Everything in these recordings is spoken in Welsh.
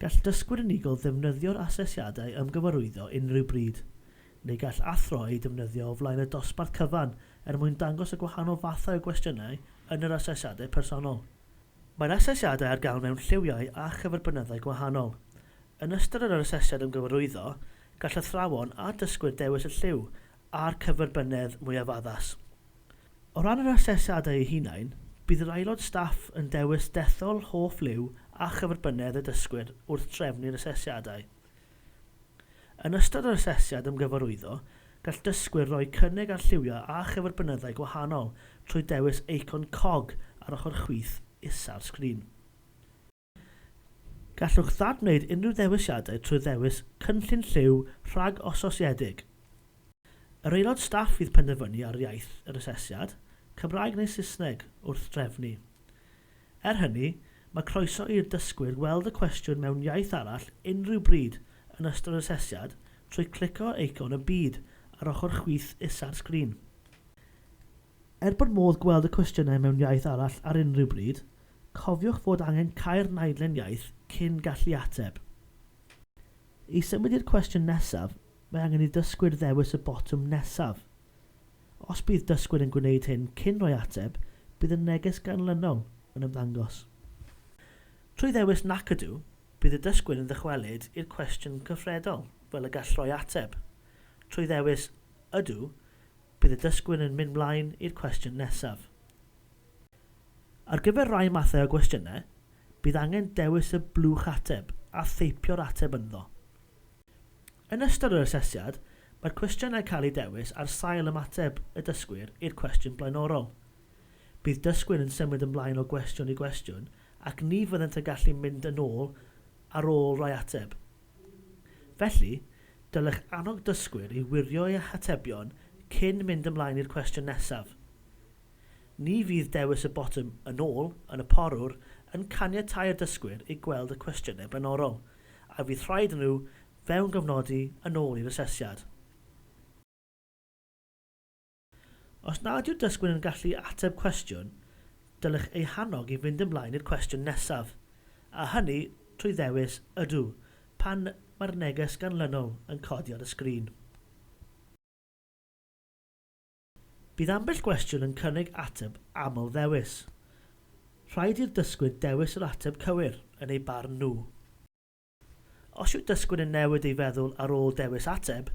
Gall dysgwyr unigol ddefnyddio'r asesiadau ymgyfarwyddo unrhyw bryd, neu gall athro eu defnyddio o flaen y dosbarth cyfan er mwyn dangos y gwahanol fathau o gwestiynau yn yr asesiadau personol. Mae'r asesiadau ar gael mewn lliwiau a chyferbynyddau gwahanol. Yn ystod yr asesiad ymgyfarwyddo, gall athrawon a dysgwyr dewis y lliw a'r cyferbynnedd mwyaf addas. O ran yr asesiadau eu hunain, bydd yr aelod staff yn dewis dethol hoff liw a chyferbynnedd y dysgwyr wrth drefnu'r asesiadau. Yn ystod yr asesiad ymgyfarwyddo, gall dysgwyr roi cynnig ar lliwiau a chyferbynnyddau gwahanol trwy dewis eicon cog ar ochr chwith isa'r sgrin. Gallwch ddad-wneud unrhyw ddewisiadau trwy ddewis cynllun lliw rhag-ososiedig. Yr aelod staff fydd penderfynu ar iaith yr asesiad, Cymraeg neu Saesneg, wrth drefnu. Er hynny, mae croeso i'r dysgwyr weld y cwestiwn mewn iaith arall unrhyw bryd yn ystod yr asesiad trwy clicio ar eicon y byd ar ochr chwith isa'r sgrin. Er bod modd gweld y cwestiynau mewn iaith arall ar unrhyw bryd, cofiwch fod angen cau'r naidlen iaith cyn gallu ateb. I symud i'r cwestiwn nesaf, mae angen i ddysgwyr ddewis y botwm nesaf. Os bydd dysgwyr yn gwneud hyn cyn rhoi ateb, bydd y neges ganlynol yn ymddangos. Trwy ddewis 'Nac Ydw', bydd y dysgwyr yn ddychwelyd i'r cwestiwn cyfredol fel y gall rhoi ateb. Trwy ddewis 'Ydw', Bydd y dysgwyr yn mynd mlaen i'r cwestiwn nesaf. Ar gyfer rhai mathau o gwestiynau, bydd angen dewis y blwch ateb a theipio'r ateb ynddo. Yn ystod yr asesiad, mae'r cwestiynau cael eu dewis ar sail ymateb y dysgwyr i'r cwestiwn blaenorol. Bydd dysgwyr yn symud ymlaen o gwestiwn i gwestiwn ac ni fyddent yn gallu mynd yn ôl ar ôl rhai ateb. Felly, dylech annog dysgwyr i wirio eu hatebion cyn mynd ymlaen i'r cwestiwn nesaf. Ni fydd dewis y botwm 'Yn ôl' yn y porwr yn caniatáu'r dysgwyr i gweld y cwestiynau blaenorol, a fydd rhaid iddyn nhw fewngofnodi yn ôl i'r asesiad. Os nad yw'r dysgwr yn gallu ateb cwestiwn, dylech eu hannog i fynd ymlaen i'r cwestiwn nesaf, a hynny trwy ddewis Ydw pan mae'r neges ganlynol yn codi ar y sgrin. Bydd ambell gwestiwn yn cynnig ateb aml-ddewis. Rhaid i'r dysgwyr dewis yr ateb cywir, yn eu barn nhw. Os yw dysgwyr yn newid ei feddwl ar ôl dewis ateb,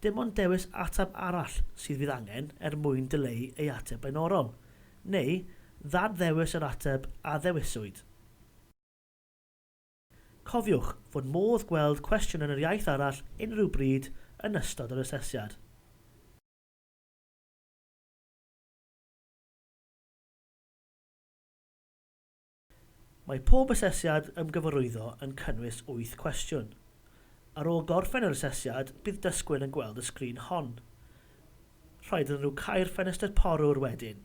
dim ond dewis ateb arall sydd fydd angen er mwyn dileu ei ateb blaenorol, neu ddad-ddewis yr ateb a ddewiswyd. Cofiwch fod modd gweld cwestiwn yn yr iaith arall unrhyw bryd yn ystod yr asesiad. Mae pob asesiad ymgyfarwyddo yn cynnwys wyth cwestiwn. Ar ôl gorffen yr asesiad, bydd dysgwyr yn gweld y sgrin hon. Rhaid iddyn nhw cau'r ffenestr porwr wedyn.